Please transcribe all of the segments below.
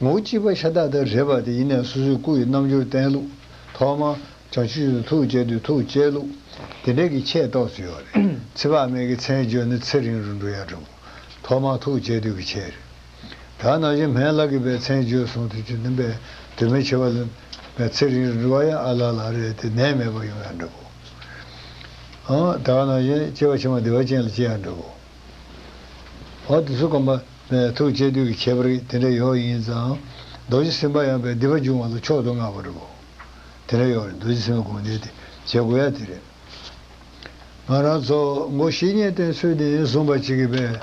ངོ་བོ་གཅིག་པ་ཤ་སྟག་སྟག་རེད་པ་དེ་ཡིན་ནས་སོ་སོའི་སྐུ་ཡི་རྣམ་འགྱུར་བསྟན་ལུགས། ཐོག་མར། བྱང་ཆུབ་ཏུ་ཐུགས་བསྐྱེད་དུས་ཐུགས་བསྐྱེད་ལུགས། དེ་འདྲ་གི་ཆེས་རྟོགས་ཚུལ་ཡོད་རེད། ཚེ་དཔག་མེད་ཀྱི་མཚན་བརྗོད་ནི་ཚེ་རིང་རུ་འགྲོ་ཡག་འགྲོ། ཐོག་མར་ཐུགས་བསྐྱེད་དུས་ཀྱི་ཆེ་རེད། དག་ན་གཞན་ཕན་བླ་གི་པའི་མཚན་བརྗོད་གསུང་དུས་ཀྱི་ནི་པའི་དུས་མི་ཆེ་བ་ལ། པའི་ཚེ་རིང་རུ་འགྲོ་བ་ཡང་ཨ་ལ་ལ་རེད་དེ་ནད་མེད་པར་ཡོང་ཡག་འགྲོ། དག་ན་གཞན་སྐྱེ་བ་ཕྱི་མ་བདེ་བ་ཅན་ལ་སྐྱེ་ཡག་འགྲོ། འོ་དེ་ཚོ་སྐོམ་པ། ནས་ཐུགས་བསྐྱེད་དུས་ཀྱི་ཁྱད་པར་དེ་འདྲ་ཡོག་ཡིན་ཙང། རྡོ་རྗེ་སེམས་དཔའ་ཡངས་པའི་སྡིག་པ་འབྱུང་བ་ལ་མཆོག་ཏུ་བསྔགས་པ་རེད་བོ། དེ་འདྲ་ཡོག་རེད་རྡོ་རྗེ་སེམས་དཔའི་དགོངས་འགྲེལ་དེ་མཇལ་དགོས་ཡ་དེ་རེད། ང་རང་ཚོ་མགོ་བཞི་གཉེན་བསྟེན་ཚུལ་བདེན་བཟུང་བ་ཅིག་གི་བས།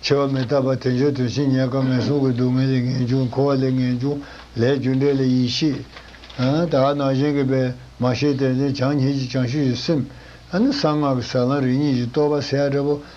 ཆེ་བ་མི་རྟག་པ་དེ་འབྱོར་དོན་ཕྱིན་ཉེས་དཀའ་ངལ་བཟུང་གི་སྡུག་བསྔལ་ལས་ངན་བྱུང་འཁོར་བ་ལས་ངན་བྱུང་ལས་རྒྱུ་འབྲས་ལ་ཡིད་ཆེས། དག་སྣང་གཞན་གྱི་བས་མ་ཤེས་དད་ལྡན་བྱང་སྙིང་གཅིག་བྱང་ཤུལ་གྱི་སེམས། ཨ་ནི་གསང་སྔགས་ཀྱི་ཟབ་ལམ་རིགས་གཉིས་ཀྱི་རྟོགས་པ་གསལ་ཡ་འདྲ་བོ།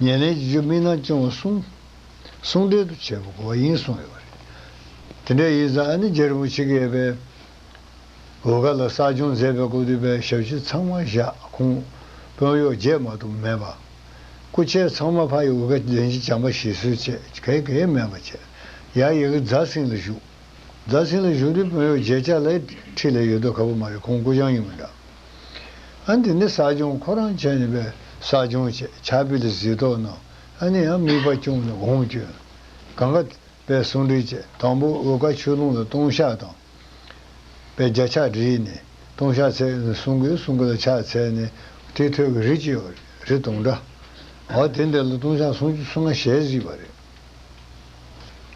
ཉེར་ལེན་གྱི་རྒྱུ་དམིགས་སྣང་སྐྱོང་བ་གསུམ། གསུང་འགྲེལ་དུ་བྱས་པ་གོ་བ་ཡིན་གསུངས་ཡོད་པ་རེད། དེ་འདྲའི་ཡིག་ཚང་ནི་རྒྱལ་པོ་ཆིག་གེ་པས་བོད་ཁ་ལ་གསར་སྦྱོང་མཛད་པའི་སྐོར་བསྡུས་པའི་ཞབས་ཕྱི་ཚང་མ་བཞག་ཁུངས་དཔོན་གཡོག་རྒྱས་མ་གཏོགས་མེད་པ། སྐུ་མཆེད་ཚང་མ་ཕ་ཡི་འོད་ཁ་ལྡན་གྱི་བྱམས་པ་བཞེས་གསོལ་བཅས་གལ་གེའི་མེད་པ་བཅས་ཡང་ཡི་གེ་རྫ་སིང་ལ་བཞུགས། རྫ་སིང་ལ་བཞུགས་དུས་དཔོན་གཡོག་རྒྱས་ཅག་ལ་ཁྲིད་ལས་ཡོད་དོ་ཁ་པོ་མ་རེད་ཁོང་སྐུ་བྱང་ཡིན་མི་འདྲ། ཨ་འདི་ནི་ཟ་སྦྱོང་ཁོ་རང་བྱས་ནས་པས་ཟ་སྦྱོང་བྱས་བྱ་བི་ལ་བཟི་ཏོག་ནོ་ཨ་ནི་ཡང་མིག་པ་བཅུང་ནས་འོང་བསྐྱོན། གང་ག། པས་སུང་འདྲིས་བྱས་དང་པོ་འོལ་ཀ་ཆུ་ཀླུང་ལ་སྟོང་ཤག་དང། པས་བརྒྱ་ཕྱག་བྲིས་ནས་སྟོང་ཤག་ཚད་ནས་སུང་གི་སུང་གི་ལ་ཕྱག་ཚད་ནས་ཏི་ཐོད་ཀྱི་རི་གཅིག་རི་སྟོང་འདྲ། བ་དེ་འདི་ལ་སྟོང་ཤག་སུང་སུང་ང་ཞལ་གཟིགས་པ་རེད།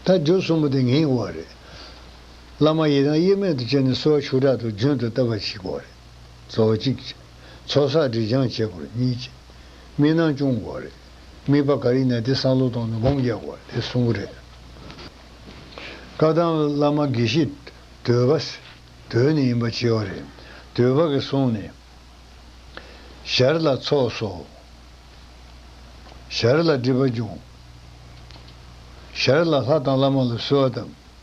ད་རྒྱུ་གསུམ་པོ་དེ་ངེས་བ་རེད། བླ་མ་ཡི་དམ་དབྱེར་མེད་དུ་བསྐྱེད་ནས་གསོལ་བ་ཆུ་དྲག་ཏུ་རྒྱུན་དུ་བཏབ་པ་གཅིག་དགོས་རེད། ཚོགས་གཅིག། ཚོགས་བསགས་འབྲི་སྦྱང་བྱེད་དགོས་གཉིས། དམིགས་སྣང་སྐྱོང་དགོས་རེད། དམིགས་པ་ག་རེ་ཡིན་ན་དེ་བསམ་བློ་གཏོང་ནས་སྒོམ་རྒྱག་དགོས་རེད་གསུང་གི་རེད། བཀའ་གདམས་བླ་མ་དགེ་བཤེས། དོལ་པ། དོལ་ནི་ཡིན་པ་བྱེད་བ་རེད། དོལ་པ་གི་གསུང་ནི། ཞར་ལ་ཚོགས་སོ། ཞར་ལ་སྒྲིབ་པ་སྦྱོང། ཞར་ལ་ལྷ་དང་བླ་མ་ལ་གསོལ་བ་བཏབ།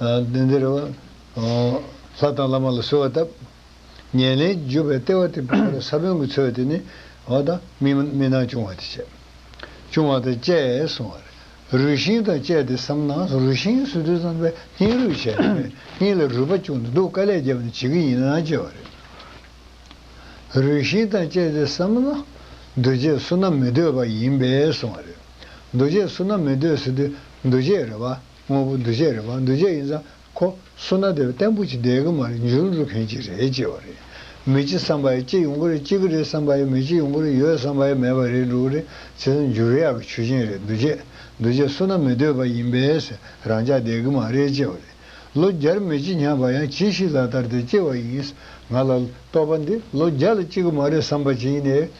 གནས་འདིར། ལྷ་དང་བླ་མ་ལ་གསོལ་བ་བཏབ། ཉེར་ལེན་བརྒྱུད་པའི་ལྟེ་བ་སྟེ་བུམ་པར་ས་བོན་གྱི་ཚུལ་དེ་ནི། འོ་དང། མིག་ནང་ཅུང་བ་དེ་བྱས། ཅུང་བ་དང་བཅས་སོང་བར། རུས་ཤིང་དང་བཅས་ཏེ་སམ་ནང་སོ་རུས་ཤིང་སུ་དུ་ཙམ་པའི་སྙིང་རུས་བྱས་ནས་སྙིང་ལ་རུས་པ་ཅུང་འདུག་དཀའ་ལས་རྒྱབ་ནས་བྱེད་ཀྱི་ཡིན་ན་བྱས་པ་རེད། རུས་ཤིང་དང་བཅས་ཏེ་སམ་ན། འདུ་བྱེད་བསོད་ནམས་མི་འདོད་པ་ཡིན་པས་སོང་བ་རེད། འདུ་བྱེད་བསོད་ནམས་མི་འདོད་ཟེར་དུས་འདུ་བྱེད་རེད་བ། དངོས་པོ་འདུ་བྱེད་རེད་མ་འདུ་བྱེད་ཡིན་ཙང་ཁོ་སུ་ན་དེ་བརྟན་པོ་ཅིག་བསྡད་གི་མ་རེད་འཇུར་འགྲོ་མཁན་ཅིག་རེད་ཅེས་བ་རེད། མི་གཅིག་བསམ་པ་ཡ་གཅིག་ཡོང་གི་རེད་གཅིག་གི་རེད་བསམ་པ་ཡ་མི་གཅིག་ཡོང་གི་རེད་ཡོད་བསམ་པ་ཡ་མེད་པ་རེད་འགྲོ་གི་རེད་བྱས་ཙང་འཇུར་ཡག་གི་ཆུ་ཆེན་རེད་འདུ་བྱེད་འདུ་བྱེད་སུ་ན་མི་འདོད་པ་ཡིན་པས་རང་ཅག་བསྡད་གི་མ་རེད་ཅེས་བ་རེད། ལོ་བརྒྱར་མི་གཅིག་ཉམས་པ་ཡང་ཇི་ཞིག་ལ་ལྟར་དེ་སྐྱེ་བ་ཡིན། ང་ལ་ལྟོས་པ་འདི་ལོ་བརྒྱ་ལ་སྐྱེ་གི་མ་རེད་བསམ་པ་ཅིག་ཡིན་ནའི་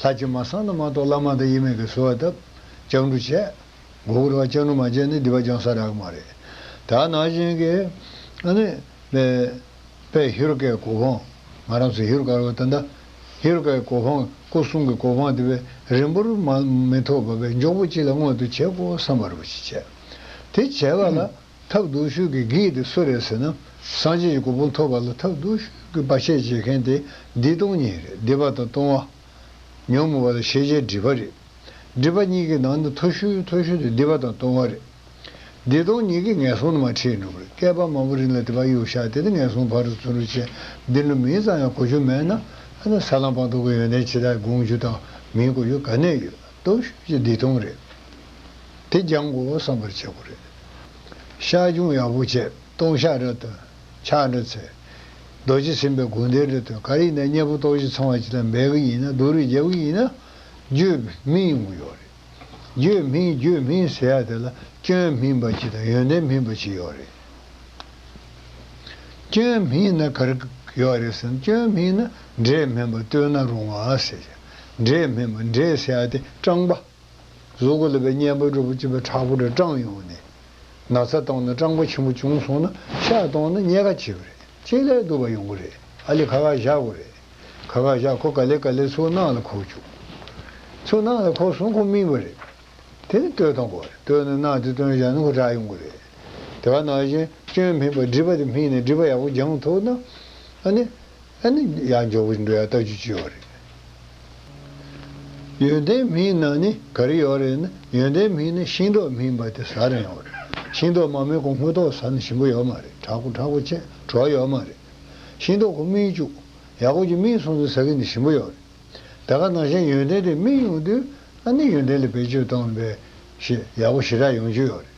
ལྷ་སྤྱན་མ་བསང་དང་མ་གཏོགས་བླ་མ་དང་དབྱེར་མེད་ཀྱི་གསོལ་བ་བཏབ། ལྕགས་འབྲུ་བཅད། མགོ་བོར་བ་ལྕགས་ནུ་མ་བཅད་ནི་སྡིག་པ་སྦྱང་ས་རག་མ་རེད། ད་ནང་བཞིན་གྱི། ཨ་ནི། པས་ཧེ་རུ་ཀའི་གོ་འཕང། ང་རང་ཚོས་ཧེ་རུ་ཀ་རོ་ད་མདའ། ཧེ་རུ་ཀའི་གོ་འཕང་སྐུ་གསུང་གི་གོ་འཕང་དེ་བས་རིང་པོར་མ་མི་ཐོགས་པ་བས་མགྱོགས་པོ་གཅིག་ལ་མངོན་དུ་བྱེད་དགོས་བསམ་པ་རུ་གཅིག་བྱས། དེ་བྱས་པ་ལ། ཐབས་རྡུགས་ཤོས་ཀྱི་གེགས་དེ་སུ་རེད་ཟེར་ན། སངས་རྒྱས་ཀྱི་གོ་འཕང་ཐོབ་པ་ལ་ཐབས་རྡུགས་ཤོས་ཀྱི་བར་ཆད་བྱེད་མཁན་དེ་འདི་སྟོང་ཉིད་རེད་བདེ་བ་དང་སྟོང་བ། ཉོན་མོངས་པ་དང་ཤེས་བྱའི་སྒྲིབ་པ་རེད། སྒྲིབ་པ་གཉིས་ཀྱི་ནང་ན་མཐོ་ཤོས་མཐོ་ཤོས་དེ་བདེ་བ་དང་སྟོང་བ་རེད། འདི་སྟོང་ཉིད་ཀྱི་ངན་སོང་ནི་མ་འཁྲིད་འགྲོ་གི་བསྐལ་པ་མང་པོ་རིང་ལ་དེ་བར་གཡུག་བཞག་དེ་ནས་ངན་སོང་བར་དུ་བརྩོན་འགྲུས་ཅན་འདི་འགྲོ་མིན་ཙམ་ཡང་གོ་རྒྱུ་མེད་ན། ཨ་ན་ས་ལམ་སྤངས་རྟོགས་ཀྱི་ཡོན་ཏན་ཇི་ལྟར་དགོངས་རྒྱུ་དང་མིན་གོ་རྒྱུ་ག་ནས་ཡོད་རྟོགས་ཤོས་ཀྱི་འདི་སྟོང་རེད་དེ་སྦྱང་དགོ་བསམ་པར་བྱེད་དགོ་རེད། ཤངས་ཆུང་ཡག་པོ་བྱས་སྟོང་ཤག་རབ་ཏུ་ཆགས་འགྲོ་ཚེ། རྡོ་རྗེ་སེམས་དཔའི་དགོངས་འགྲེལ་འབྲི་དོན་ག་རེ་ཡིན་ན་གཉེན་པོ་ཏོག་བཞི་ཚང་བ་ཅི་ལ་འབད་གི་ཡིན་ན་སྡུག་རུས་རྒྱབ་གི་ཡིན་ན་བརྗོད་སྨིན་ཡོང་གི་ཡོད་རེད། བརྗོད་སྨིན་བརྗོད་སྨིན་ཟེར་ཡ་དེ་ལ་སྐྱོན་སྨིན་པ་ཅི་དང་ཡོན་ཏན་སྨིན་པ་ཅི་ཡོད་རེད། སྐྱོན་སྨིན་ན་ག་རེ་ཡོད་རེད་ཟེར་ན་སྐྱོན་སྨིན་ན་འབྲས་སྨིན་པ་བསྟོད་ན་རུང་བ་ཟེར་ཞིང་འབྲས་སྨིན་པ་འབྲས་ཟེར་ཡ་དེ་སྤྲང་པ། གཟུགས་ཀྱི་ལུས་པའི་གཉེན་པོའི་སྒྲུབ་པོ་གཅིག་པའི་དྲག་པོ་དེ་སྐྲངས་ཡོང་ནས། ན་ཚ་བཏང་ན་སྐྲངས་པ་ཆེན་པོ་བྱུང་སོང་ན་ཤ་བཏང་ན་རྙེད་དཀའ་བྱེད་པ་རེད་ཅེས་ལས་དུ་བ་ཡོང་གི་རེད་ཨ་ལི་ཁ་ཁ་བཞག་གོ་རེད་ཁ་ཁ་བཞག་ཁོ་ག་ལེར་ག་ལེར་ཚུར་ནང་ལ་ཁོག་བཅུག་ཚུར་ནང་ལ་ཁོག་སོང་ཁོ་སྨིན་པ་རེད་དེ་ནི་ལྟོས་དང་གོ་རེད་ལྟོས་ན་ནང་དེ་སྟོན་བཞག་ན་ཁོ་དྲག་ཡོང་གི་རེད་དེ་བ་ནང་བཞིན་སྐྱོན་སྨིན་པ་སྒྲིབ་པ་དེ་སྨིན་ནས་སྒྲིབ་པ་ཡག་པོ་སྦྱང་ཐུབ་ན་ཨ་ནི། ཨ་ནི་ཡང་མགྱོགས་པོ་ཞིག་འགྲོ་ཡག་ལྟ་རྒྱུ་ཅི་ཡོད་རེད། ཡོན་ཏན་མིན་ན་ནི་ག་རེ་ཡོད་རེད་ན་ཡོན་ཏན་མིན་ན་ཤིང་ཏོག་མིན་པ་དེ་ཟ་རན་ཡོད་རེད་ཤིང་ཏོག་མ་མེད་གོང་དངུལ་ཏོག་ཟ་ན་ཞིམ་པོ་ཡོད་མ་རེད་དྲག་པོ་དྲག་པོ་ཅན་གྲོགས་ཡོད་མ་རེད་ཤིང་ཏོག་གོ་སྨིན་བཅུག་ཡག་པོ་ཅིག་སྨིན་སོང་ཚེ་ཟ་གི་ནི་ཞིམ་པོ་ཡོད་རེད་ད་ག་ནང་བཞིན་ཡོན་ཏན་དེ་སྨིན་ཡོང་དུས་ཨ་ནི་ཡོན་ཏན་ལ་བེད་སྤྱོད་གཏོང་པའི་ཞེས་ཡག་པོ་ཞི་དྲག་ཡོང་རྒྱུ་ཡོད་རེད།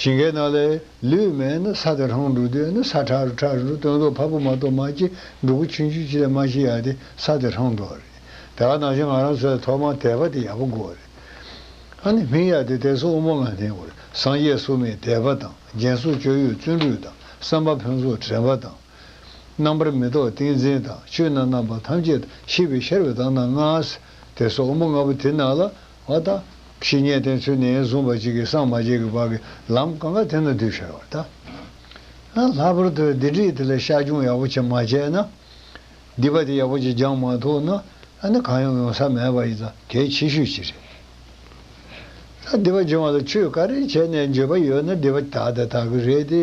ཞིང་ཁའི་ནང་ལས་ལུས་མེད་ན་ས་དེ་ཧྲོང་འབྲུག་སྡོད་ན་ས་ཁྲག་རུ་ཁྲག་རུ་སྟོན་ཟོག་ཕ་བུ་མ་གཏོགས་མ་སྐྱེས་འབྲུག་གུ་ཆུན་ཆུན་ཅི་ལས་མ་ཤི་ཡ་དེ་ས་དེ་ཧྲོང་འགྲོ་བ་རེད་ད་ནང་བཞིན་ང་རང་ཚོའི་ཐོག་མ་དད་པ་དེ་ཡག་པོ་དགོས་རེད་ཨ་ནི་མིང་ཡག་དེ་དད་སོགས་དབུ་མ་ལ་ལྷན་དགོས་རེད་སངས་རྒྱས་སུ་མའི་དད་པ་དང་རྒྱན་སོགས་སྤྱོད་ཡུལ་བརྩོན་འགྲུས་དང་བསམ་པ་ཕན་སོགས་དྲན་པ་དང། རྣམ་པར་མི་རྟོག་ཏིང་འཛིན་དང་ཆོས་རྣམས་རྣམ་པ་ཐམས་ཅད་དང་ཤེས་པའི་ཤར་བའི་དང་ནང་སྔགས། དད་སོགས་དབུ་མ་ལྔ་པོ་དེ་ནང་ལ་བ་དང། ཞེས་ཉེས་བསྟན་ཚུལ་ནི་བཟུང་བ་གཅིག་གིས་སངས་མ་རྒྱས་ཀྱི་བར་གྱི་ལམ་གང་གཱ་དེ་ན་འདུས་བྱས་བར་དང། ལྷག་པར་དུ་སྡེ་སྒྲིག་དེ་ལ་བཤགས་སྦྱོང་ཡག་པོ་བྱེད་མ་བྱས་ན། སྡིག་པ་དེ་ཡག་པོ་ཅིག་སྦྱངས་མ་ཐུབ་ན། ཨ་ནི་གང་ཡང་ཡོང་ས་མེད་པ་ཡིན་ད་གལ་ཆེ་ཤོས་ཅིག་རེད། ད་སྡིག་པ་སྦྱོང་བ་ལ་ཆོས་ག་རེ་བྱས་ནས་འགྱོད་པ་ཡོད་ན་སྡིག་པ་དག་དེ་དག་གི་རེད་དེ།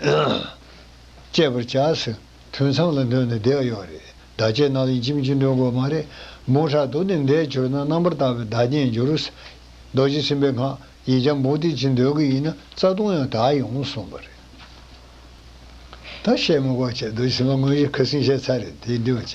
སྤྱད་པར་བྱ། ཐུན་མཚམས་ལ་འདོན་ནས་བཟླས་ཀྱི་ཡོད་རེད། བདག་བསྐྱེད་རྣམས་ལན་གཅིག་མཆིས་འདོན་དགོས་མ་རེད། མུ་ཧྲ་དུ་ནི་འདས་གྱུར་ན་རྣམ་པར་དག་པའི་བདག་བསྐྱེད་འགྱུར། རྡོ་རྗེ་སེམས་དཔའི་སྔགས་ཡིག་འཇམ་པོ་འདི་གཅིག་འདོན་གྱི་ཡིན་ན་རྩ་ལྟུང་ཡང་དག་ཡོང་གསུངས་པ་རེད། ད་བཤད་མི་དགོས་བྱས་རྡོ་རྗེ་སེམས་དཔའ་དངོས་གཞི་ཁ་སིང་བཤད་ཚར་རེད་དེ་འདོན་བྱས།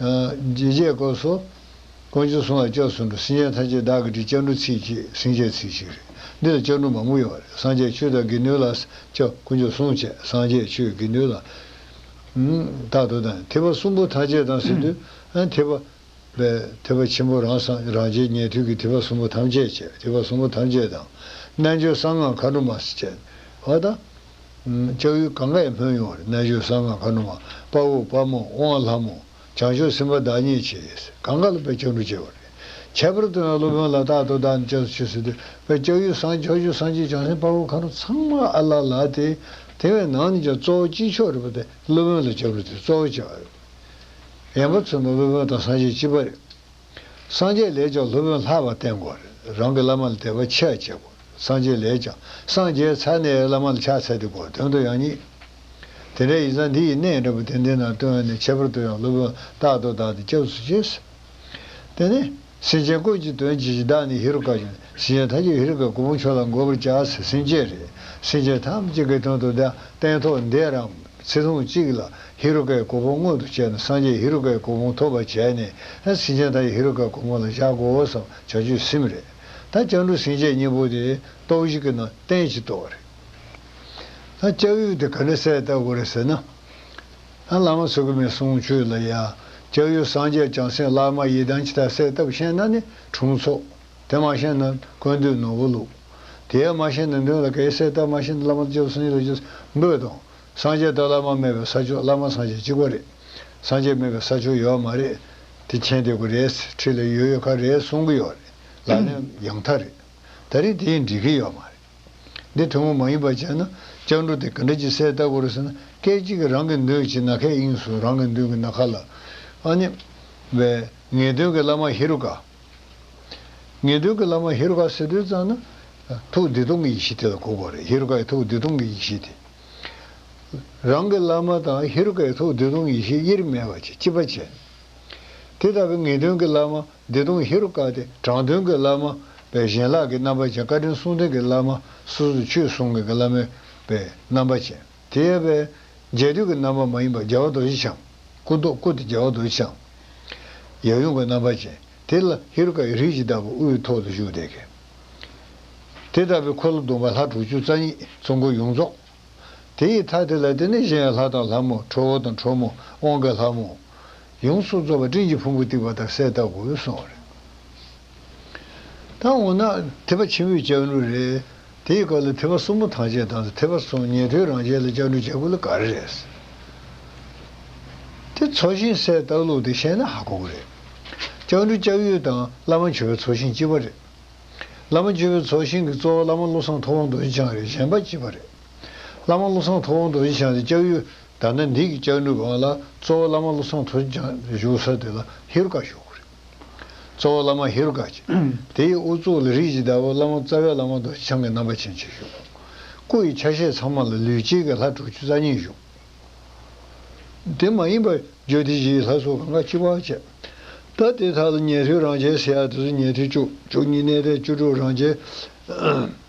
རྗེས་བཅད་བསྐོར་སོ། དཀོན་མཆོག་སྲུང་བ་སྐྱབས་སུ་འགྲོ། སྲིན་ཆེན་ཐམས་ཅད་བདག་གི་ཁྲིད་བཅའ་འབྲུ་ཚིག་ཅེས་སྲིན་བཅའི་ཚིག་ཅིག་རེད། འདི་ལ་བཅའ་འབྲུ་མང་པོ་ཡོད་པ་རེད་སངས་རྒྱས་ཆོས་དང་དགེ་འདུན་ལ། སྐྱབས་དཀོན་མཆོག་སྲུང་བཅས་སངས་རྒྱས་ཆོས་དགེ་འདུན་ལ། རྟག་ཏུ་དང་ཐེག་པ་གསུམ་པོ་ཐ་ཆད་དང་ཟེར་དུས། ཐེག་པ། པའི་ཐེག་པ་ཆེན་པོ་རང་སངས་རང་རྗེས་ཉན་ཐོས་ཀྱི་ཐེག་པ་གསུམ་པོ་ཐམས་ཅད་བཅས་ཐེག་པ་གསུམ་པོ་ཐམས་ཅད་དང། རྣལ་འབྱོར་གསང་སྔགས་མཁའ་འགྲོ་མ། བ་དང། ལྕགས་ཡུལ་གངྒཱ་ཡི་སྨོན་ཡོངས་རེ་གནས་ཆོས་བཟང་ངང་ཁ་ནུ་མ་དཔའ་བོ་དཔའ་མོ་དབང་ལྷ་མོ་བྱང་ཆུབ་སེམས་དཔའ་བདག་ཉིད་ཆེས་གངྒཱ་ལ་པའི་ལྕགས་འབྲུག་ཅེས་པ་རེད། ཁྱད་པར་དུ་ཡང་སློབ་དཔོན་ལ་དྭགས་དོ་དྭགས་ནས་བཅས་སུ་ཆོས་སྲིད་དོད་པའི་ལྕགས་ཡུལ་བཟང་མཆོག་ཆོས་བཟང་ཆེས་བྱང་སེམས་དཔའ་བོ་ཁ་ནུ་ཚང་མ་ཨ་ལགས་ལགས་ཏེ་དེ་བས་ནང་ནས་ཀྱང་གཙོ་བོ་དཀྱིལ་ཆོག་རེད་པ་དེ་སློབ་དཔོན་ལ་ལྕགས་འབྲུག་དེ་གཙོ་བོ་བྱས་པ་རེད། ཡན་པ་ཚོས་མ་སློབ་དཔོན་དང་སངས་རྒྱས་སྤྱི་དཔའ་རེད། སངས་རྒྱས་ལས་ཀྱང་སློབ་དཔོན་ལྷག་པར་བསྟེན་དགོས་རེད། རང་གི་བླ་མ་ལ་དད་པ་ཆེར་བྱེད་དགོས། སངས་རྒྱས་ལས་ཀྱང་སངས་རྒྱས་ཚར་ནས་བླ་མ་ལ་ཕྱག་འཚལ་ཏེ་དགོས་དོན་དུ་ཡང་བསྙེགས། དེ་འདྲའི་ཡིག་ཚང་འདི་ཡི་གནས་འདྲ་པོ་དེ་འདི་ན་བཏོན་ནས་ཁྱད་པར་དུ་ཡང་སློབ་དཔོན་རྟག་ཏུ་བདག་གི་སྐྱབས་སུ་བྱས། དེ་ནས། སེམས་ཅན་ཀུན་གྱི་དོན་བྱེད་ཀྱི་བདག་ནི་ཧེ་རུ་ཀ་ཡིན། སེམས་ཅན་ཐམས་ཅད་ཧེ་རུ་ཀའི་གུ་མོ་ཁྱོད་ལ་འགོད་པར་བྱ་ཟེར་སེམས་ཅན་རེད། སེམས་ཅན་ཐམས་ཅད་ཀྱི་དོན་དུ་བདག་སྟན་ཐོག་འདས་རང། ཚེ་ཐུང་གཅིག་ལ་ཧེ་རུ་ཀའི་གོ་འཕོང་མངོན་དུ་བྱས་ན་སངས་རྒྱས་ཧེ་རུ་ཀའི་གོ་འཕོང་ཐོབ་པར་བྱས་ནས་ད་སིང་ཅང་ཏའི་ཧེ་རུ་ཀའི་གོ་འཕོང་ལ་བཞག་གོ་བསམ་བྱ་ཆོས་སེམས་རེད། ད་སྐྱང་དྲུག་སེང་བཅད་གཉིས་པོ་དེ་ཏོག་བཞི་གི་ནང་བསྟན་གྱི་ཏོག་རེད། ད་སྐྱབས་ཡུལ་དེ་ག་འདྲ་གསལ་བལྟ་དགོས་རེད་ཟེར་ན། ད་བླ་མ་ཚུགས་ཀྱི་མེད་གསུང་ཆོས་ལ་ཡ། སྐྱབས་ཡུལ་སངས་རྒྱས་བྱང་སེམས་བླ་མ་ཡི་དམ་ཅི་ད་གསལ་བཏབ་ཤེས་ན་ནི་དྲུང་འཚོགས། དེ་མ་ཤེས་ན་དཀོན་དུས་ནོར་བུ་བླུག། དེའི་མ་ཤེས་ནི་མདུན་ལ་གེགས་སེལ་བཏབ་མ་ཤེས་ན་བླ་མ་བཅོལ་སོང་ཡིད་ལ་བཅོལ་འབོད་དང། སངས་རྒྱས་དང་བླ་མ་མེད་པའི་ས་ཕྱོགས་བླ་མ་སངས་རྒྱས་གཅིག་པ་རེད། སངས་རྒྱས་མེད་པའི་ས་ཕྱོགས་ཡོད་མ་རེད། དེ་མཁྱེན་བདེ་པོ་རེད་ཁྲིད་ལ་ཡོད་ཡོད་ཁ་རེད་གསུང་གི་ཡོད་རེད་ལག་ལེན་ཡང་དག་རེད། ད་རེས་དེ་འགྲིག་གི་ཡོད་མ་རེད། འདི་ཐུན་མོང་མ་ཡིན་པ་བྱས་ན་སྤྱང་གྲུང་དེ་ག་འདྲ་ཅི་སེ་ལྟ་དགོས་རེད་ཟེར་ན་སྐད་ཅིག་གིས་རང་གི་མདུན་གྱི་ན་ཁའི་དབྱིངས་སུ་རང་གི་མདུན་གྱི་ན་ཁ་ལ། ཨ་ནི། བའི་ངེས་དོན་གྱི་བླ་མ་ཧེ་རུ་ཀ། ངེས་དོན་གྱི་བླ་མ་ཧེ་རུ་ཀ་སེ་སྟོན་གཙང་ན། ཐུགས་བདེ་སྟོང་གི་ཡེ་ཤེས་དེ་ལ་གོ་བ་རེད། ཧེ་རུ་ཀ་ཡི་ཐུགས་བདེ་སྟོང་གི་ཡེ་ཤེས་དེ། རང་གི་བླ་མ་དང་ཧེ་རུ་ཀ་ཡི་ཐུགས་བདེ་སྟོང་གི་ཡེ་ཤེས་དབྱེར་མེད་པ་ཅིག་ཅི་བ་ཅན། དེ་ལྟ་བུའི་ངེས་དོན་གྱི་བླ་མ་བདེ་སྟོང་ཧེ་རུ་ཀ་དེ་དྲང་དོན་གྱི་བླ་མ་བས་གཞན་ལག་གི་རྣམ་པ་ཅན་བཀའ་དྲིན་གསུང་ལྡན་གྱི་བླ་མ་སོ་སོ་ཆོས་གསུང་མཁན་གྱི་བླ་མས་བས་རྣམ་པ་ཅན། དེ་ཡས་པས། རྒྱལ་དུས་ཀྱི་རྣམ་པ་མ་ཡིན་པ་རྒྱལ་བ་རྡོ་རྗེ་འཆང། སྐུ་མདོག་སྐུ་དེ་རྒྱལ་བ་རྡོ་རྗེ་འཆང། ཡབ་ཡུམ་གྱི་རྣམ་པ་ཅན། དེ་ལ་ཧེ་རུ་ཀ་ཡི་རིགས་ཀྱི་བདག་པོ་དབུའི་ཐོག་ཏུ་བཞུགས་ཏེ་གནས། དེ་ལྟ་བུའི་འཁོར་ལོ་བསྡོམས་པ་ལྷ་དྲུག་ཅུ་རྩ་གཉིས་ཚོགས་འཁོར་ཡོངས་རྫོགས། དེ་ཡི་མཐའ་དེ་ལ་བརྟེན་ནས་གཞན་ཡང་ལྷ་དང་ལྷ་མོ་ཁྲོ་བོ་དང་ཁྲོ་མོ་དབང་གི་ལྷ་མོ། ཡོངས་སུ་རྫོགས་པ་སྤྲིན་གྱི་ཕུང་པོ་གཏིབས་པ་དང་གསལ་བཏབ་གོ་བའི་གསུང་རེད། ད་འོ་ན་ཐེག་པ་ཆེན་པོའི་ལྕགས་འབྲུ་རེད། དེའི་སྐབས་ལ་ཐེག་པ་གསུམ་པོ་ཐང་ཆད་དང་ཐེག་པ་གསུམ་ཉན་ཐོས་རང་ཆས་ལ་ལྕགས་འབྲུ་ལྕགས་ཀུ་ལ་ག་རེ་རེད། དེ་ཚོགས་ཞིང་གསལ་བཏགས་ལུགས་དེ་བཤད་ན་ཧ་གོ་གི་རེད། ལྕགས་འབྲུ་ལྕགས་ཡུལ་དང་བླ་མ་འཆོལ་བའི་ཚོགས་ཞིང་གཅིག་པ་རེད། བླ་མ་འཆོལ་བའི་ཚོགས་ཞིང་གི་གཙོ་བོ་བླ་མ་བློ་བཟང་ཐུབ་དབང་རྡོ་རྗེ་འཆང་རེད་གཞན་པ་གཅིག་པ་རེད། བླ་མ་བློ་བཟང་ཐུབ་དབང་རྡོ་རྗེ་འཆང་དེ་ལྕགས་ཡུལ་དར་ན་འདི་གི་ལྕགས་འབྲུ་སྒང་ལ་གཙོ་བོ་བླ་མ་བློ་བཟང་ཐུབ་དབྱངས་བཞུགས་ས་དེ་ལ་ཧེ་རུ་ཀ་བཞུགས་གི་རེད། གཙོ་བོ་བླ་མ་ཧེ་རུ་ཀ། དེ་ཡི་དབུ་གཙུག་ལ་རིགས་ཀྱི་བདག་པོ་བླ་མ་རྩ་བའི་བླ་མ་མདོ་བྱང་གི་རྣམ་པ་ཅན་གཅིག་བཞུགས། སྐུ་ཡི་ཆ་ཤས་ཚང་མ་ལ་ལུས་དཀྱིལ་གྱི་ལྷ་དྲུག་ཅུ་རྩ་གཉིས་བཞུགས། དེ་མ་ཡིན་པར་རྒྱུད་སྡེ་བཞིའི་ལྷ་སོགས་གང་གཱ་སྤྱི་བ་བཅས། ད་ལྟའི་ཐ་ལ་ཉན་ཐོས་རང་རྒྱལ་སེ་ཡ་དེ་ཚོ་ཉན་ཐོས་བཅུ་དྲུག་ཉིད་གནས་བརྟན་བཅུ་དྲུག་རང་རྒྱལ།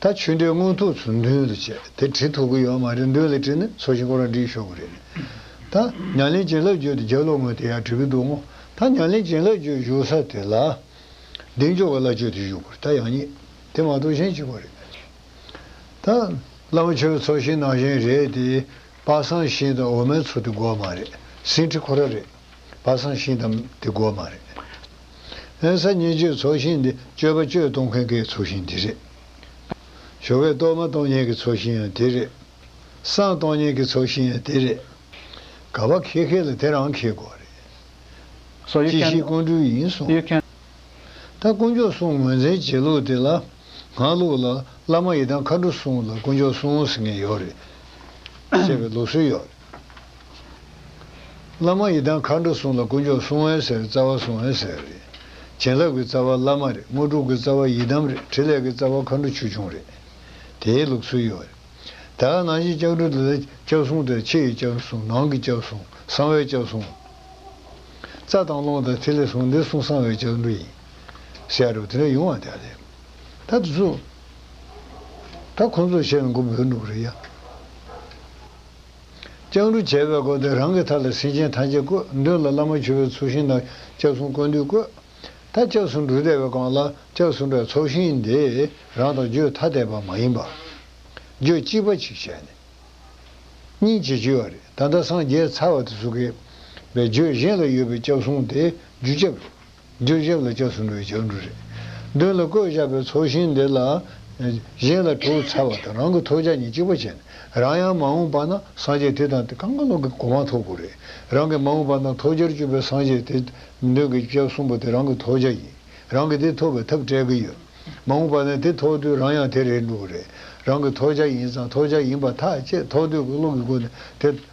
ད་ཆོས་འབྲེལ་དངོས་ཐོག་ཚུར་འདོན་དུ་བྱས་དེ་བྲིས་ཐུབ་ཀྱི་ཡོད་མ་རེད་འདོད་ལ་བྲིས་ན་ཚོ་ཞིང་ཁོ་རང་བྲིས་ཤོག་གི་རེད་ནི། ད་ཉང་ལེན་བྱིན་རླབས་བརྗོད་དེ་རྒྱ་ལོག་ངོས་དེ་ཡང་བྲིས་ཀྱི་འདུག་མོ་ད་ཉང་ལེན་བྱིན་རླབས་བརྗོད་བཞུགས་ས་དེ་ལ། གདེང་འཇོག་གི་བླ་མཆོད་དེ་བཞུགས་པར་ད་ཡང་རྙེད་དེ་མ་གཏོགས་གཞན་གཅིག་པ་རེད། ད་བླ་མ་ཆོས་ཚོ་ཞིང་ནང་གཞན་རེད་དེ། པ་སངས་ཞིང་དང་འོ་མའི་ཚོ་དེ་འགོ་མ་རེད་ཟིན་བྲིས་ཁོ་རང་རེད། པ་བསམ་ཤེས་དམ་དེ་དགོས་མ་རེད། ཨན་ས་ཉིན་བཅོས་ཚོགས་ཞིང་འདི་སྤྱོད་པ་བཅོས་གཏོང་མཁན་གའི་ཚོགས་ཞིང་དེ་རེད། ཞོ་བས་གཏོར་མ་གཏོང་མཁན་གི་ཚོགས་ཞིང་ཡང་དེ་རེད། སྲང་གཏོང་མཁན་གི་ཚོགས་ཞིང་ཡང་དེ་རེད། ག་བ་ཁེ་ཁེ་ལ་དེ་རང་ཁེ་དགོས་རེད། ཅི་ཞིག་ཀོན་སྤྲུལ་ཡིན་གསུངས། ད་དཀོན་མཆོག་གསུང་ངོས་འཛིན་བྱེད་ལུགས་དེ་ལ་ང་ལུགས་ལ་བླ་མ་ཡི་དམ་མཁའ་འགྲོ་གསུང་ལ་དཀོན་མཆོག་གསུང་ཟེར་མཁན་ཡོད་རེད། ཅེས་པའི་ལུགས་སྲོལ་ཡོད་རེད། བླ་མ་ཡི་དམ་མཁའ་འགྲོ་སྲུང་ལ་དཀོན་མཆོག་སྲུང་འོད་ཟེར་རྩ་བ་སྲུང་འོད་ཟེར་རེད། བྱིན་རླབས་ཀྱི་རྩ་བ་བླ་མ་རེད་དངོས་གྲུབ་ཀྱི་རྩ་བ་ཡི་དམ་རེད་ཕྲིན་ལས་ཀྱི་རྩ་བ་མཁའ་འགྲོ་ཆོས་འབྱུང་རེད། དེའི་ལུགས་སྲོལ་ཡོད་རེད། ད་ནང་བཞིན་ལྕགས་སྦྲུལ་དེ་ལ་ལྕགས་སྲུང་དང་ཕྱི་ཡི་ལྕགས་སྲུང་ནང་གི་ལྕགས་སྲུང་གསང་བའི་ལྕགས་སྲུང། རྩ་དང་རླུང་དང་ཐིག་ལེ་སྲུང་འདི་སྲུང་གསང་བའི་ལྕགས་སྦྲུལ་ཡིན། ཤར་རུ་དེ་འདྲ་ཡོང་བ་དེ་རེད། ད་དེ་ཚོ། ད་ཁོང་ཚོ་ཕྱིར་འགུག་འབོད་འདུག་རེད་ཡ། ལྕགས་འབྲུ་བྱས་པས་བསྐོར་ཏེ་རང་གི་མཐའ་ལ་སེང་ཆེན་ཐམས་ཅད་བཀོད། མདུན་ལ་བླ་མ་མཆོད་པའི་ཚོགས་ཤིང་དང་ལྕགས་ཟུང་བཀོད་འདུས་བཀོད། མཐའ་ལྕགས་ཟུང་འབྲུ་བཟླས་པའི་སྒང་ལ་ལྕགས་ཟུང་པའི་ཚོགས་ཤིང་འདི་རང་དང་བརྗོད་ཐ་དད་པ་མ་ཡིན་པ། བརྗོད་གཅིག་པ་ཅིག་བྱས་ནས། སྙིང་རྗེ་བྱེད་པ་རེད་ད་ལྟ་སངས་རྒྱས་ཚར་བ་དེ་སུ་གེ། བའི་བརྗོད་གཞན་ལ་ཡོད་པའི་ལྕགས་ཟུང་དེ་རྒྱུ་ཆབ་རེད། བདུན་བཞག་ལ་སྐྱབས་སུ་འགྲོ་བའི་སྐྱབས་འགྲོ་རེ། བདུན་ལ་བཀོད་བཞག་པའི་ཚོགས་ཞིང་འདི་ལ། གཞན་ལ་དྲུག་ཚར་བ་དང་རང་གི་ཐོབ་བྱ་ཉིན་གཅིག་པ་བྱས་ནས་རང་ཡང་མ་འོངས་པ་ན་སངས་རྒྱས་དེ་དང་དེ་གང་ག་ལོག་གི་གོ་མ་ཐོབ་གོ་རེ། རང་གི་མ་འོངས་པ་ན་ཐོབ་བྱར་གྱུར་པའི་སངས་རྒྱས་དེ། མདུན་གྱི་སྐྱབས་གསུམ་པོ་དེ་རང་གི་ཐོབ་བྱ་ཡིན། རང་གིས་དེ་ཐོབ་པའི་ཐབས་སྤྲད་གི་ཡོད། མ་འོངས་པ་ནས་དེ་ཐོབ་དུས་རང་ཡང་དེ་རེད་འགྲོ་གི་རེད། རང་གི་ཐོབ་བྱ་ཡིན་ཙང་ཐོབ་བྱ་ཡིན་པ་ཐག་བཅད་ཐོག་དུས་ཀྱི་བློ་གི་སྒོ་ནས་དེ།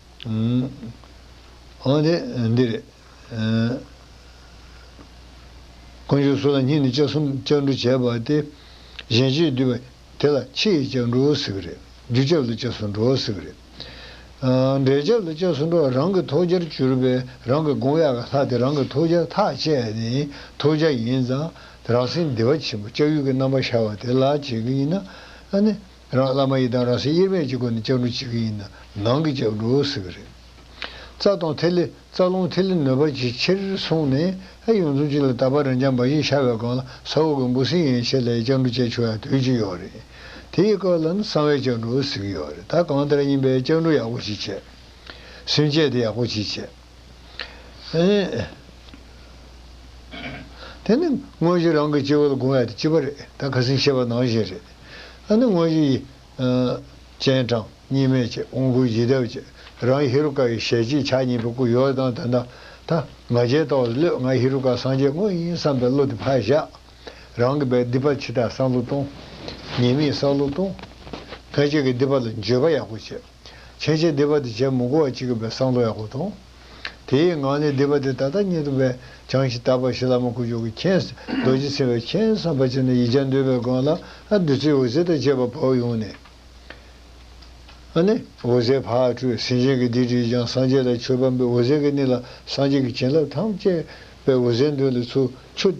འོན་ཏེ། འདི་རེད། དཀོན་མཆོག་སུ་ལ་སྙིང་ནས་ལྕགས་གསུམ་ལྕགས་འབྲུ་བྱས་པ་སྟེ། གཞན་གཅེས་བསྡུས་པ་དེ་ལ་ཕྱི་ཡི་ལྕགས་འབྲུ་ཟེར་གི་རེད། རྒྱུ་ལྕགས་ལ་ལྕགས་སུ་འགྲོ་བ་ཟེར་གི་རེད། འབྲས་ལྕགས་ལ་ལྕགས་སུ་འགྲོ་བ་རང་གི་ཐོག་རྒྱར་གྱུར་པས་རང་གི་དགོངས་ཡག་གི་ལྷ་དེ་རང་གི་ཐོག་རྒྱ་ཐག་བཅད་ནས་ཐོག་རྒྱ་ཡིན་ཙང་རང་སེམས་བདེ་བ་ཆེན་པོ་ལྕགས་ཡུལ་གྱི་རྣམ་པ་ཤར་བ་དེ་ལ་བྱེད་ཀྱི་ཡིན་ན། རང་བླ་མ་ཡི་དམ་རང་སྲས་དབྱེར་མེད་ཀྱི་སྒོ་ནས་ལྕགས་འབྲུ་ཕྱི་གི་ཡིན་ན་ནང་གི་ལྕགས་འབྲུ་ཟེར་གི་རེད། རྩ་དང་ཐིག་ལེ་རྩ་རླུང་ཐིག་ལེ་ནོད་པ་ཅིའི་ཕྱིར་གསུངས་ནས་ཨེ་ཡོང་འཛུམ་གཅིག་ལ་ད་བར་རང་རྐྱང་འབའ་ཞིག་ཤར་བའི་སྒང་ལ་ས་འོག་གི་འབུ་སྲིན་ཡན་ཆད་ལ་ཡི་ལྕགས་འབྲུ་བཅས་ཆོད་ཡང་དུས་ཅི་ཡོང་རེད། དེ་ཡི་སྐབས་ལ་ནི་གསང་བའི་ལྕགས་འབྲུ་ཟེར་གི་ཡོད་རེད་ད་གང་ལྟར་ཡིན་པའི་ལྕགས་འབྲུ་ཡག་པོ་ཅིག་བཅད། སུན་བཅད་དེ་ཡག་པོ་ཅིག་བཅད། དེ་ནི་དངོས་གཞི་རང་གི་སྤྱི་བོ་ལ་སྒུང་བས་དེ་སྤྱི་བ་རེད་ད་ཁ་སིང་ཤེས་པ་ནང་བཞིན་རེད། ཨ་ནི་དངོས་གཞི་ཡི། སྤྱན་དྲངས་གཉིས་མེད་ཀྱི་དབང་བསྐུར་བཞི་བསྡེབས་ཀྱི་རང་ཧེ་རུ་ཀ་ཡི་ཞལ་གཅིག་ཕྱག་གཉིས་པའི་སྐུ་ཡོ་ཨེ་དང་དེ་ན་ད་ང་རྒྱལ་ཏོག་ལ་ལོད་ང་ཧེ་རུ་ཀ་སངས་རྒྱས་དངོས་ཡིན་བསམ་པའི་བློ་དེ་ཕར་བཞག། རང་གི་བའི་སྡིག་པ་ཕྱི་ལྟར་བསམ་བློ་གཏོང། ཉེས་དམིགས་བསལ་བློ་གཏོང། ཕལ་ཆེར་གྱི་སྡིག་པ་ལ་འགྱོད་པ་ཡག་པོ་བྱེད། ཕྱེད་ཕྱེད་སྡེ་པ་དེ་བྱད་མུག་གོ་བ་གཅིག་གི་བའི་སྲང་དོ་ཡག་པོ་དང། དེའི་ངང་ལས་སྡེ་པ་དེ་ད་ལྟ་སྙེད་དུ་བས་བྱང་ཞིང་དག་པ་ཞི་ལྷག་མ་དཀོན་མཆོག་གི་མཁྱེན་རྡོ་རྗེ་ཚེ་བའི་མཁྱེན་བསམ་པ་ཅན་ནས་ཡིག་བྱང་འདོད་པའི་སྒང་ལ་བདུད་རྩིའི་འོད་ཟེར་དང་བཅས་པ་བབས་ཡོང་ནས། འོད་ཟེར་ཕར་སྤྲོས་ཟིན་བྱིན་གྱིས་འདི་དྲིས་ཀྱང་སངས་རྒྱས་ལ་ཆོས་བམ་པའི་འོད་ཟེར་གྱི་སྣེ་ལ་སངས་རྒྱས་ཀྱི་བྱིན་རླབས་ཐམས་ཅད་པའི་འོད་ཟེར་འདོན་ལ་ཚུར་ཆུད།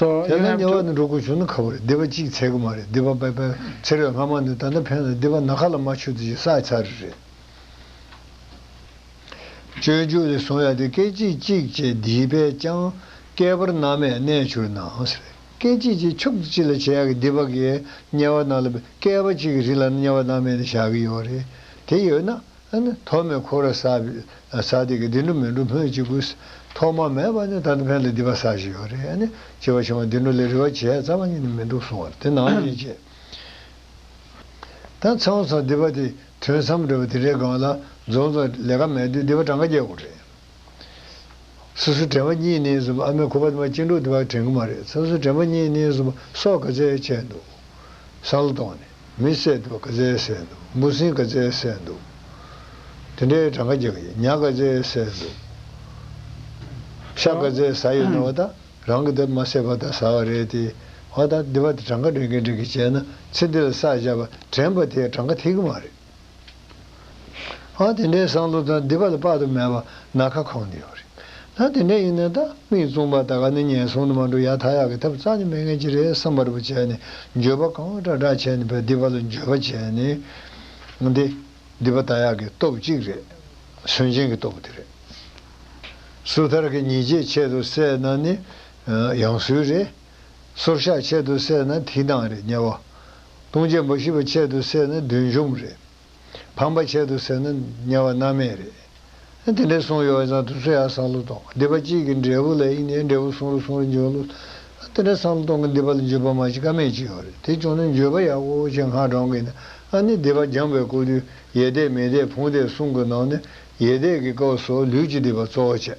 དེ་ལ་ཉེ་བ་ནི་འགྲོ་ཀུན་བྱུང་ན་ཁ་བོ་རེད་སྡེ་པ་གཅིག་ཚད་དགུ་མ་རེད་སྡེ་པ་པད་པན་ཚེ་རོལ་སྔ་མ་ནི་ད་ལྟ་ཕན་ལ་སྡེ་པ་ན་ཁ་ལ་མ་ཆུ་དེ་བཞིན་བསགས་ཚར་རེད། སྤྱོད་འཇུག་ལས་གསུང་ཡ་དེ་སྐད་ཅིག་གཅིག་བྱས་འདིའི་པས་ཀྱང་བསྐལ་པར་མནའ་མས་གནས་བྱུར་ནའང་ཟེར། སྐད་ཅིག་གཅིག་ཕྱོགས་བརྩི་ཅི་ལ་བྱེད་ཡག་གི་སྡེ་པ་འགའི་དམྱལ་བ་རྣམས་ལ་བསྐལ་པ་གཅིག་གི་རིང་ལ་མནའ་མ་མནའ་མས་ནས་བཞག་གི་ཡོད་རེད་དེ་ཡོད་ན། ཨ་ནི་ཐོག་མའི་འཁོར་ར་ས་བས་ས་དེ་གི་དེ་འདྲུ་མི་འདྲུ་སྨོས་ཅི་དགོས། ཐོག་མ་མེད་པ་ནི་ད་ནི་ཕན་ལ་འདི་པ་ས་ཞིག་ཡོད་རེད་ཨ་ནི་བྱེད་པ་བྱུང་བ་དེ་འདྲུ་ལས་རི་བ་བྱས་རྩ་བ་ཉིད་ནི་མི་འདུག་གསུང་བར་དེ་ནའང་ཉེས་བྱས། ད་ཚེ་འོང་ཚང་འདི་པ་དེ་དོན་བསམ་འགྲོས་པ་དེ་འདྲའི་སྒང་ལ་འཛོམས་ཙང་ལས་ཀ་མེད་དུས་འདི་པ་གྲངས་ཀ་རྒྱག་དགོས་རེད། སོ་སོའི་དྲན་པ་གཉིས་ནི་བཟུང་ཨ་མའི་ཁུ་བ་དེ་མ་སྐྱེ་འགྲོ་འདི་པ་དྲན་གི་མ་རེད་སོ་སོའི་དྲན་པ་གཉིས་ནི་བཟུང་སོགས་ག་ཚད་བྱས་འདུག་བསམ་བློ་གཏོང་ནས། མི་བསད་འདུག་ཀ་ཙའི་བསད་འདུག་འབུ་སྲིན་ཀ་ཙའི་བསད་འདུག། དེ་འདྲའི་གྲངས་ཀ་རྒྱག་ཡིན་ཉག་ཀ་ཙའི་བསད་འདུག། ཤ་ཀ་ཙའི་ཟ་ཡོད་ན་བ་ད་རང་གི་དེབ་མ་བསད་པར་ད་ཟ་བ་རེད་དེ། བ་ད་འདི་བ་ད་གྲངས་ཀ་འདྲེན་གིན་འདྲེན་གིན་བྱས་ན་ཚེ་འདི་ལ་ས་བཞག་པ་དྲན་པ་དེ་གྲངས་ཀ་ཐེག་གི་མ་རེད། ཨང་དེ་འདྲའི་བསམ་བློ་དང་སྡིག་པ་ལ་དཔག་ཏུ་མེད་པ་ན་ཁ་ཁོང་ནི་ཡོད་རེད། ད་དེ་འདྲ་ཡིན་ན་ད་མིག་བཙུམ་པ་ད་ག་ནི་ངན་སོང་དུ་མ་འགྲོ་ཡག་ད་ཡག་གི་ཐབས་རྩ་ནི་མེད་ངེས་ཅི་རེད་བསམ་པར་བུ་བྱས་ནས་འགྱོད་པ་གང་འདྲ་འདྲ་བྱས་ནས་བས་སྡིག་པ་ལ་འགྱོད་པ་བྱས་ནས་འདི་སྡིག་པ་ད་ཡག་གི་སྟོབས་གཅིག་རེད། སུན་འབྱིན་གི་སྟོབས་དེ་རེད། སུ་ཐར་གི་ཉིས་བརྒྱའི་ཆེད་དུ་བསད་ན་ནི་ཡང་སུའི་རེད། སོར་བཤགས་ཆེད་དུ་བསད་ན་དེའི་ནང་རེད་དམྱལ་བ། ལྟུང་བྱེད་འབའ་ཞིག་པ་ཆེད་དུ་བསད་ན་བདུན་བཅོམ་རེད། ཕམ་པ་ཆེད་དུ་བསད་ན་དམྱལ་བ་མནའ་མེད་རེད། དེ་འདྲའི་གསུང་ཡོད་ཙང་དུ་སུ་ཡང་བསམ་བློ་གཏོང་སྡིག་པ་གཅིག་གི་འབྲས་བུ་ལ་ཨི་ནས་འབྲས་བུ་གསུང་རུ་གསུང་རུ་འཇོན་ལོ། དེ་འདྲའི་བསམ་བློ་གཏོང་གི་སྡིག་པ་ལ་འཇུས་པ་མ་བྱེད་ཀ་མེད་ཅིག་ཡོད་རེད་དེ་བྱུང་ན་འཇུས་པ་ཡག་པོ་བྱེད་སྔ་དྲང་གི་ནི་ཨ་ནི་སྡིག་པ་སྦྱངས་པའི་སྐུ་དུས་ཡེ་དད་མི་དད་ཕུང་དད་གསུམ་གི་ནང་ནས་ཡེ་དད་ཀྱི་སྐབས་སུ་ལུས་ཀྱི་སྡིག་པ་གཙོ་བོ་བྱེད།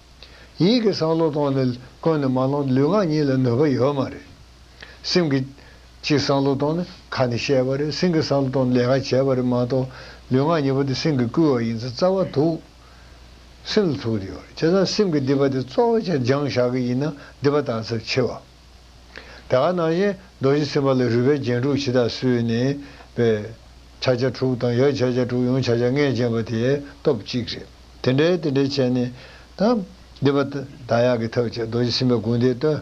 ཡིད་ཀྱི་བསམ་བློ་གཏོང་ནི་ཀུན་ནས་མ་ལོངས་ལུས་ངག་གཉིས་ལ་ནུས་པ་ཡོད་མ་རེད། སེམས་ཀྱི། ཅིག་བསམ་བློ་གཏོང་ནི་ཁ་ནས་བཤད་པ་རེད་སེམས་ཀྱི་བསམ་བློ་གཏོང་ནི་ལས་ཀ་བྱེད་པ་རེད་མ་གཏོགས། ལུས་ངག་གཉིས་པོ་དེ་སེམས་ཀྱིས་བསྐུལ་བ་ཡིན་ཚེ་རྩ་བ་ཐུག། སེམས་ལ་ཐུག་དེ་ཡོད་རེད་བྱས་ཙང་སེམས་ཀྱི་སྡིག་པ་དེ་གཙོ་བོ་ཆེ་སྦྱང་བཞག་གི་ཡིན་ན་སྡིག་པ་དག་ཚབས་ཆེ་བ། དེ་ག་ནང་བཞིན་རྡོ་རྗེ་སེམས་དཔའ་ལ་རུས་པའི་རྒྱན་དྲུག་ཕྱི་དང་སུའི་ནི། པའི། ཕྱག་རྒྱ་དྲུག་དང་ཡར་ཕྱག་རྒྱ་དྲུག་ཡང་ཕྱག་རྒྱ་ལྔས་བརྒྱན་པ་དེའི་སྟོབས་གཅིག་རེད། དེ་འདྲའི་དེ་འདྲའི་བྱས་ནི། དང། འདི་པ། དང་ཡང་གི་ཐབས་བྱས་རྡོ་རྗེ་སེམས་དཔའི་དགོངས་འདི་སྟོན།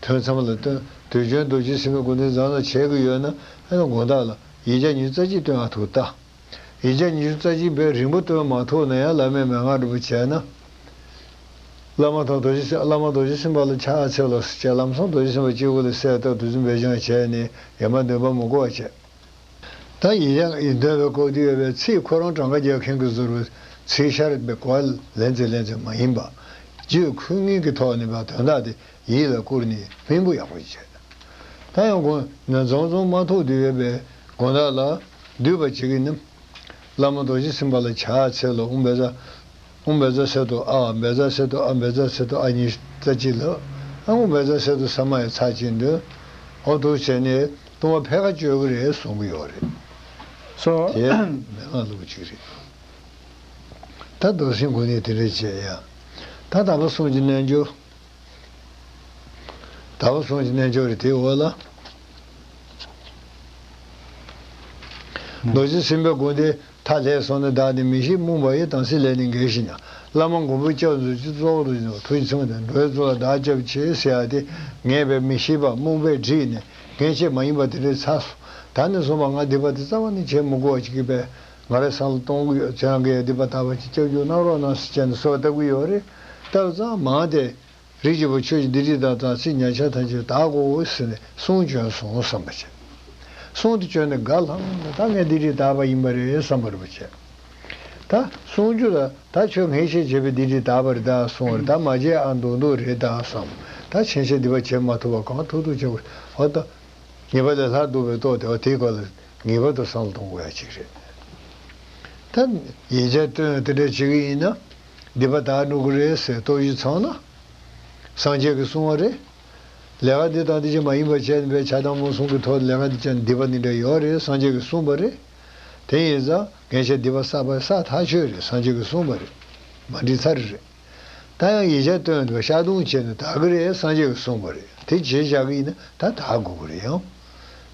ཐོས་མཚམས་ལ་སྟོན། དུས་སྦྱོར་རྡོ་རྗེ་སེམས་དཔའི་དགོངས་འདི་བཟང་ལ་བྱས་ཀྱི་ཡོད་ན། ཨེ་ལ་དགོངས་དག་ལ། ཡིག་བརྒྱ་ཉུལ་རྩ་གཅིག་སྟོན་ཨ་ཐུག་ལྟ། ཡིག་ཆ་ཉི་ཤུ་རྩ་གཅིག་པའི་རིང་པོ་སྟོན་མ་ཐུབ་ན་ཡང་བླ་མས་མན་ངག་སྒྲུབ་པ་བྱས་ན། བླ་མ་དང་རྡོ་རྗེ་སེམས་བླ་མ་རྡོ་རྗེ་སེམས་དཔའ་ལ་ཕྱག་འཚལ་ལོ་ཟེར་བྱས་ལམ་སང་རྡོ་རྗེ་སེམས་དཔའ་སྤྱི་བོ་ལ་གསལ་བཏབ་ཏུ་རྫུན་འབེལ་སྦྱང་བྱས་ནས་ཡེ་མ་འདོན་པ་མུ་གུ་བ་བྱས། ད་ཡིན་ཡང་ཡིན་འདོན་པའི་སྐབས་དུས་ཡོལ་བའི་ཚིག་ཁོ་རང་གྲངས་ཀ་རྒྱག་མཁན་གྱི་བཟོར་བའི་ཚིག་ཤར་བའི་གོ་བ་ལེན་ཚེ་ལེན་ཚེ་མ་ཡིན་པ། རྒྱུད་འཁོད་ངེས་ཀྱི་ཐོག་ནས་བ་དོན་དག་དེ་ཡིད་ལ་བསྐུར་ནས་སྨིན་པོ་ཡག་པོ་བྱེད། ད་ཡང་དགོན། ནས་རྫོང་རྫོང་མ་ཐོག་ཏུ་ཡོད་པའི་དགོན་བདག་ལ་བསྡུས་པ་བྱེད་ཀྱི་ནི། བླ་མ་རྡོ་རྗེ་སེམས་དཔའ་ལ་ཕྱག་འཚལ་ལོ་འུ་འབེ་ཛ། འུ་འབེ་ཛ་སེ་ཏོ་ཨ་ཨ་འབེ་ཛ་སེ་ཏོ་ཨ་འབེ་ཛ་སེ་ཏོ་ཨ་གཉིས་རྩ་གཅིག་ལ། ཨ་འུ་འབེ་ཛ་སེ་ཏོ་ས་མ་ཡ་ཚ་གཅིག་འདོན། འོ་ཐུག་བྱས་ནས་ལྟུང་བ་ཕལ་ཁ་གཅོད་ཀྱི་རེད་གསུང་གི་ཡོད་རེད། སོ། དེ་མན་ངག་ལུགས་གཅིག་རེད། ད་རྡོར་སེང་དགོན་ནས་དེ་འདྲས་བྱས་ཡ། ད་ད་པ་གསུང་གི་རྣལ་འབྱོར། ཟླ་བ་གསུམ་གྱི་རྣལ་འབྱོར་རེ་དེའི་འོག་ལ། རྡོ་རྗེ་སེམས་དཔའི་སྒོ་འདི་མཐའ་ལྷས་སོང་ན་བདག་ནི་མི་ཤེས་རྨོངས་པ་ཡི་དམ་སྲིད་ལས་ནི་འགལ་ཞིང། བླ་མ་མགོན་པོ་སྐྱབས་མཛོད་ཀྱི་གཙོ་བོ་རྡོ་རྗེ་ནོར་བུ་འཆང་དང་འགྲོའི་གཙོ་ལ་བདག་སྐྱབས་བྱེད་ཟེར་བ་དེ་ངེས་པའི་མི་ཤེས་པ་རྨོངས་པས་བསྒྲིགས་ནས་འགན་བྱས་མ་ཡིན་པ་དེ་འདྲའི་ཚགས་སུ་ད་ནི་སོང་བ་ང་འདི་བར་དུ་རྩ་བ་ནས་བྱས་མི་གོ་བ་ཅིག་གི་པས་ང་རེ་སང་ལ་གཏོང་གི་ཡོད་ཚེ་རང་གི་ཡ་ལྡི་པ་དར་བ་གཅིག་སྐྱབས་འཇུག་གནང་རོགས་གནང་ཟེར་བྱས་ནས་གསོལ་བ་བཏབ་གི་ཡོད་རེད་སྟབས་གཙང་མ་དེ། རིགས་ཀྱི་བུ་ཁྱོད་ཀྱི་འདི་རིགས་དང་དང་ཚིག་ཉག་ཆ་ཐམས་ཅད་དག་གོ་ཟེར་ནས་གསུང་བྱོན་སོང་བསམ་པ་བྱས། གསུང་དེ་བྱོན་ནས་དགའ་ལྷང་ལྷང་དང་ད་ངས་འདི་རིགས་དར་བ་ཡིན་པ་རེད་བསམ་པར་བྱས། ད་གསུང་རྒྱུ་ལ་ད་ཁྱོད་ངས་བྱས་བྱས་པས་འདི་རིགས་དར་བ་རེད་ད་གསུང་བར་ད་མ་བྱས་ཨ་མདོག་མདོག་རེད་ད་བསམ། ད་བྱས་བྱས་འདི་བ་བྱས་མ་ཐུབ་བ་གང་ཐུབ་ཐུབ་བྱས་བ། ད་ངེས་པ་ལས་ལྷར་འདུག་པའི་ཏོག་དེ་བ་དེའི་སྐོར་ལ་ངེས་པར་དུ་བསམ་བློ་གཏོང་དགོས་ཡ་གཅིག་རེད། ད་ཡིན་ཆ་སྟོན་ཡང་དེ་འདྲ་བྱེད་ཀྱི་ཡིན་ན། འདི་པ་དག་ནུ་གུ་རེད་ཟེར་རྟོག་གཞི་ཚང་ན། སངས་རྒྱས་ཀྱི་གསུང་བ་རེད། ལས་ཀ་འདི་དང་འདི་བྱེད་མ་ཡིན་པ་བྱས་ནས་པའི་ཆ་དང་མོ་གསུང་གི་ཐོག་ལས་ཀ་འདི་བྱས་འདི་པ་འདི་འདྲ་ཡོད་རེད་སངས་རྒྱས་ཀྱི་གསུང་བ་རེད། དེ་ཡིན་ཙང་འགན་ཆ་འདི་པ་བསགས་པ་ས་ཐག་ཆོད་རེད་སངས་རྒྱས་ཀྱི་གསུང་བ་རེད། མ་འགྲིག་ཚར་རེད། ད་ཡང་ཡིག་ཆ་བཏོན་འདུག་ཤ་དུང་བྱས་ནས་དག་གི་རེད་སངས་རྒྱས་ཀྱི་གསུངས་པ་རེད་དེ་བྱེད་བཞག་གི་ཡིན་ན་ད་དག་དགོས་པ་རེད་ཡང།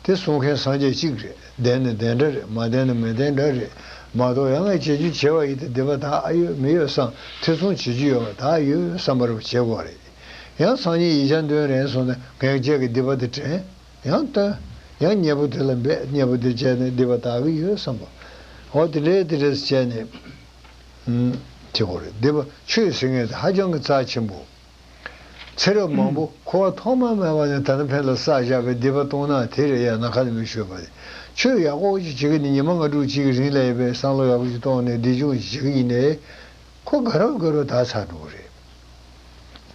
དེ་གསུང་མཁན་སངས་རྒྱས་གཅིག་རེད་བདེན་ནི་བདེན་འདྲ་རེད་མ་བདེན་ནི་མི་བདེན་འདྲ་རེད་མ་གཏོགས་ཡ་ངས་བྱེད་རྒྱུ་བྱས་པ་ཡིན་ཏེ་བདེན་པ་དག་ཡོད་མི་ཡོད་བསམ་ཐེ་ཚོམ་བྱེད་རྒྱུ་ཡོད་པ་དག་ཡོད་བསམ་པ་རུ་བྱེད་དགོས་པ་རེད། ཡང་སང་ཉིན་ཡིག་ཆ་འདོན་རན་སོང་ནས་འགན་བཅས་ཀྱི་འདི་པ་འདི་དྲན་ཡང་བཏོན། ཡང་མཉེས་པོ་དེ་ལ་འབད་མཉེས་པོ་འདི་བྱས་ནས་འདི་པ་དག་གི་ཡོད་བསམ་པ་འོ་དེ་འདྲས་དེ་འདྲས་བྱས་ནས། ཁྱི་གོ་རེད་འདི་བ་ཆོས་ཟེར་མཁན་དེ་ཧ་ཅང་གི་རྩ་ཆེན་པོ། ཚེ་རབས་མང་པོ་ཁོ་བ་ཐོག་མ་མེད་པ་ནས་ད་ནི་ཕན་ལ་བསགས་བཞག་པའི་འདི་བ་སྟོང་ནག་དེ་རེད་ཡ་ན་ཁ་ནས་མི་ཤོད་པ་རེད་ཆོས་ཡག་པོ་ཞིག་བྱེད་གི་ནི་ཉི་མ་ང་དྲུག་གཅིག་གི་རིང་ལས་པའི་བསམ་བློ་ཡག་པོ་ཞིག་གཏོང་ནས་འདི་ཅུང་ཞིག་བྱེད་གི་ཡིན་ནས་ཁོ་དགའ་རབས་དགའ་རུ་ད་ཚར་འགྲོ་གི་རེད།